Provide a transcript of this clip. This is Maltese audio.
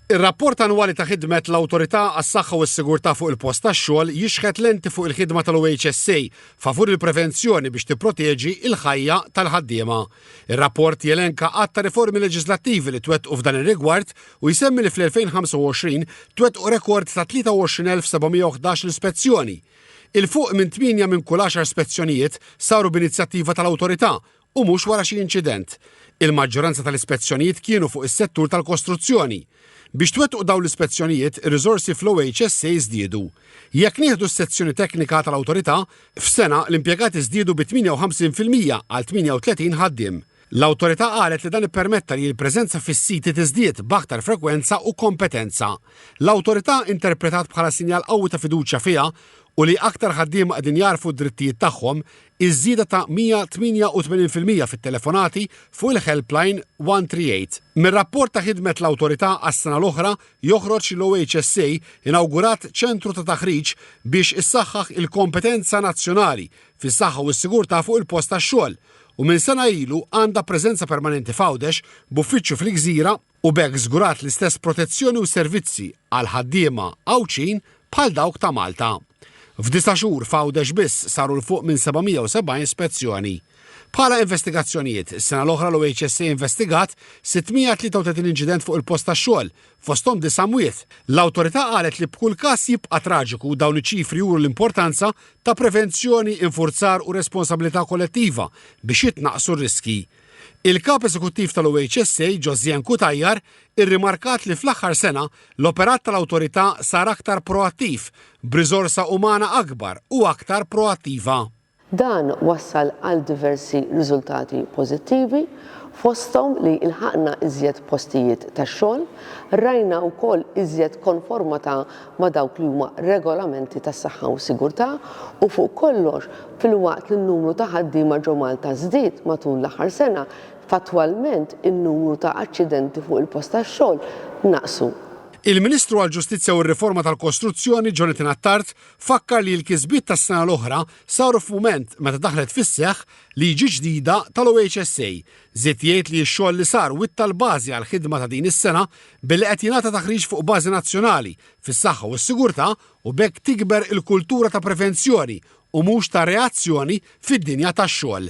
Ir-rapport annwali ta' ħidmet l-Awtorità għas-Saħħa u s-Sigurtà fuq il-Post tax-Xogħol jixħet lenti fuq il-ħidma tal-OHSA favur il-prevenzjoni biex tipproteġi l-ħajja tal-ħaddiema. Ir-rapport jelenka għadd ta' riformi leġiżlattivi li twettqu f'dan ir-rigward u jsemmi li fl-2025 twettqu rekord ta' 23,711 l-ispezzjoni. Il-fuq minn tmienja minn kull għaxar spezzjonijiet saru b'inizjattiva tal-Awtorità u mhux wara xi inċident. Il-maġġoranza tal-ispezzjonijiet kienu fuq is-settur tal-kostruzzjoni. Biex twettqu dawn l-ispezzjonijiet, ir-riżorsi fl-OHSA żdiedu. Jekk nieħdu s-sezzjoni teknika tal-Awtorità, f'sena l-impjegati żdiedu bi 58 fil-mija għal 38 ħaddiem. L-Awtorità qalet li dan ippermetta li l-preżenza fis-siti tiżdied b'aktar frekwenza u kompetenza. L-Awtorità interpretat bħala sinjal qawwi ta' fiduċja fiha u li aktar ħaddiema qegħdin jagħrfu d-drittijiet tagħhom, iż-żieda ta' 188 fil-mija fit-telefonati fuq il-helpline 138. Mir-rapport ta' ħidmet l-Awtorità għas-sena l-oħra joħroġ li l-OHSA inawgurat ċentru ta' taħriġ biex issaħħaħ il-kompetenza nazzjonali fis-saħħa u s-sigurtà fuq il-post tax-xogħol u minn sena ilu għandha preżenza permanenti f'Għawdex b'uffiċċju fil-Gżira u b'hekk żgurat l-istess protezzjoni u servizzi għall-ħaddiema Għawdxin bħal dawk ta' Malta. F'disa' xhur f'Għawdex biss saru 'l fuq minn 770 spezzjoni. Bħala investigazzjonijiet, is-sena l-oħra l-OHSA investigat 633 inċident fuq il-post tax-xogħol, fosthom disa' mwiet. L-Awtorità qalet li b'kull każ jibqa' traġiku dawn iċ-ċifri juru l-importanza ta' prevenzjoni, infurzar u responsabilità kollettiva biex jitnaqqsu r-riskji. Il-Kap Eżekuttiv tal-OHSA, Josiane Cutajar, irrimarkat li fl-aħħar sena l-operat tal-Awtorità sar aktar proattiv, b'riżorsa umana akbar u aktar proattiva. Dan wassal għal diversi riżultati pożittivi, fosthom li lħaqna iżjed postijiet tax-xogħol, rajna wkoll iżjed konformata ma' dawk li huma regolamenti tas-saħħa u s-sigurtà u fuq kollox, filwaqt li n-numru ta' ħaddiema ġo Malta żdied matul l-aħħar sena, fattwalment in-numru ta' aċċidenti fuq il-post tax-xogħol naqsu. Il-Ministru għall-Ġustizzja u r-Riforma tal-Kostruzzjoni, Jonathan Attard, fakkar li l-kisbiet tas-sena l-oħra saru f'mument meta daħlet fis-seħħ liġi ġdida tal-OHSA Żied jgħid li x-xogħol li sar witta l-bażi għall-ħidma ta' din is-sena billi qed jingħata taħriġ fuq bażi nazzjonali fis-saħħa u s-sigurtà u b'hekk tikber il-kultura ta' prevenzjoni u mhux ta' reazzjoni fid-dinja tax-xogħol.